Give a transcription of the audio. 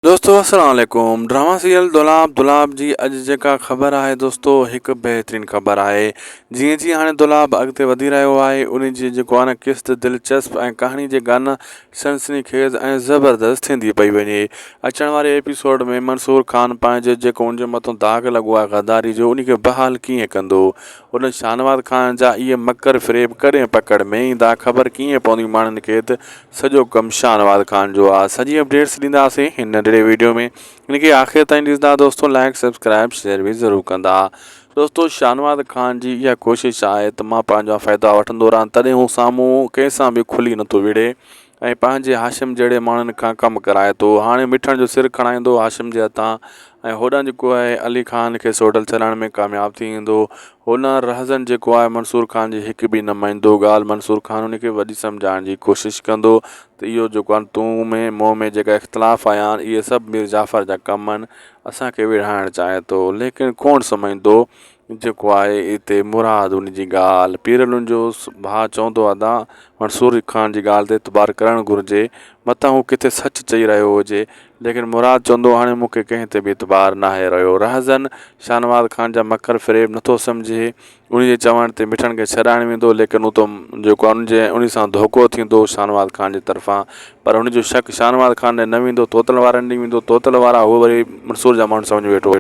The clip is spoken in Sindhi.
دوستو السلام عليڪم ڊرامه سيريل دولاب دولاب جي اڄ جيڪا خبر آهي دوستو هڪ بهترين خبر آهي جيئن جيئن هاڻي دولاب اڳتي وڌي رهيو آهي ان جي جيڪو آهي نه قسط دلچسپ ۽ ڪهاڻي جي گان سنسني خيز ۽ زبردست ٿيندي پئي وڃي اچڻ واري ايپيسوڊ ۾ منصور خان پنهنجو جيڪو ان جي مٿو داغ لڳو آهي غداري جو ان کي بحال ڪيئن ڪندو ان شاهنواز خان جا اهي مڪر فريب ڪڏهن پڪڙ ۾ ايندا خبر ڪيئن پوندي ماڻهن کي ته سڄو ڪم شاھنواز خان جو آ سڄي اپڊيٽس ڏينداسين ھن ننڍڙي ويڊيو ۾ ان کي آخر تائين ڏسندا دوستو لائيڪ سبسڪرائيب شيئر به ضرور ڪندا دوستو شاھنواز خان جي اھا ڪوشش آھي ته مان پنھنجا فائدا وٺندو رھان تڏھن ھو سامھون ڪنھن سان به کلي نٿو وڙھي ۽ پنھنجي ھاشم جھڙي ماڻھن کان ڪم ڪرائي ٿو ھاڻي مٺڻ جو سر کڻائيندو ھاشم جي ھٿان ۽ هوڏانهن جيڪو آهي علي خان کي سوڍل ڇڏائڻ ۾ ڪامياب ٿي ويندو. هوڏانهن رهزن جيڪو آهي منصور خان جي هڪ به نه مڃيندو ڳالهه منصور خان ان کي وڏي سمجهائڻ جي ڪوشش ڪندو ته اهو جيڪو آهن تون ۾ مون ۾ جيڪا اختلاف آيا آهن اهي سڀ مير جعفر جا ڪم آهن اسان کي ويڙهائڻ چاهي ٿو ليڪن ڪوڻ سمجهندو جيڪو آهي اتي مراد ان جي ڳالهه پيرلن جو ڀاء چوندو ادا منصور علي خان جي ڳالهه تي اعتبار ڪرڻ گهرجي متان هو ڪٿي سچ چئي رهيو هجي ليڪن مراد چوندو هاڻي مون کي ڪنهن تي به اعتبار ناهي رهيو رهزن شاهنواز خان جا مڪر فريب نٿو سمجهي ان جي چوڻ تي مٺن کي ڇڏائڻ ويندو ليڪن اتو جيڪو ان جي ان سان ڌوڪو ٿيندو شاهنواز خان جي طرفان پر ان جو شڪ شاهنواز خان ڏي نه ويندو توتل وارن ڏي ويندو توتل وارا هو وري منصور جا ماڻهو سمجهه ۾ ويٺو